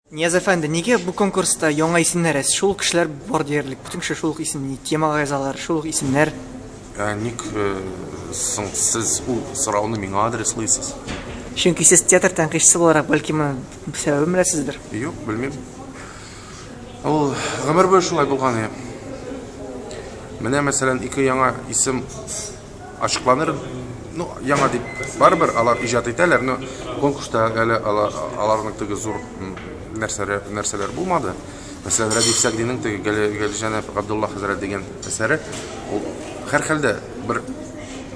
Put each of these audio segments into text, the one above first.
Нияз әфәнде, нигә бу конкурста яңа исемнәр? Ә шул ук кешеләр бар диярлек. Бөтен кеше шул ук исемне темага язалар, шул ук исемнәр. Ә ник э, соң сез ул сорауны миңа адреслыйсыз? Чөнки сез театр тәнкыйтьчесе буларак, бәлки моның сәбәбен беләсездер? Юк, белмим. Ул гомер буе шулай булган иде. Менә мәсәлән, ике яңа исем ачыкланыр ну яңа дип барыбер алар иҗат итәләр но конкурста әле аларның теге зур нәрсәләр нәрсәләр булмады мәсәлән рәдиф сәгдинең теге галиҗәнәп габдулла хәзрәт дигән әсәре ул һәрхәлдә бер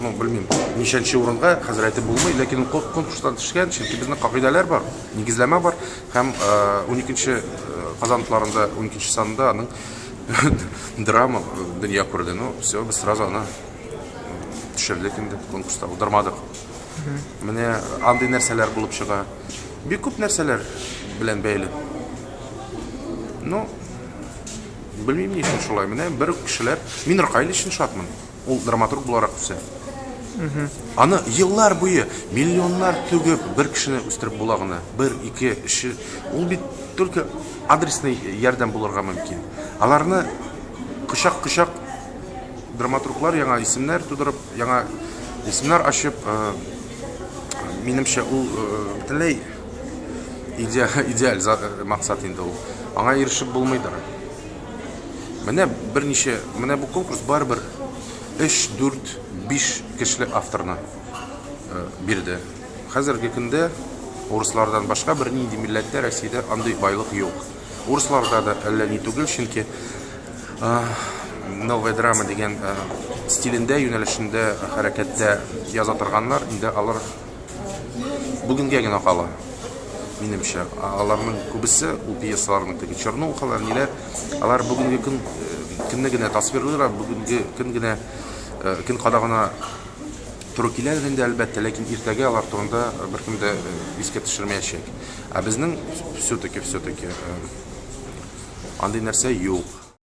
ну белмим ничәнче урынга хәзер әйтеп булмый ләкин ул конкурстан төшкән чөнки безнең кагыйдәләр бар нигезләмә бар Һәм уникенче Казан тутларында уникенче санында аның драма дөнья күрде. Ну, все, без сразу аны төшердек инде конкурста, удырмадык. Менә андый нәрсәләр булып чыга. Бик күп нәрсәләр белән бәйле. Ну, белмим ни өчен шулай. Менә бер кешеләр, мин Ркайль өчен шатмын. Ул драматург буларак үсә. Аны еллар буе миллионнар түгеп бер кешене үстереп була гына. Бер, ике, өч. Ул бит только адресный ярдәм булырга мөмкин. Аларны кочак-кочак драматурглар яңа исемнәр тудырып, яңа исемнәр ачып, э, минемчә ул э, бөтенләй идеаль, идеаль э, максат инде ул. Аңа ирешеп булмыйдыр. Менә берничә, менә бу конкурс барыбер 3, 4, 5 кешелек авторны э, бирде. Хәзерге көндә урыслардан башка бер нинди милләттә Россиядә андый байлык юк. Урысларда да әллә ни түгел, чөнки э, новая драма дигән э, стилендә, юнәлешендә, хәрәкәттә яза торганнар, инде алар бүгенгә генә кала минемчә аларның күбесе ул пьесаларның теге чернухалар ниләр алар бүгенге көн көнне генә тасвирлыйлар бүгенге көн генә көн кадагына туры киләдер инде әлбәттә ләкин иртәгә алар турында беркем дә искә төшермәячәк ә безнең все таки все таки андый нәрсә юк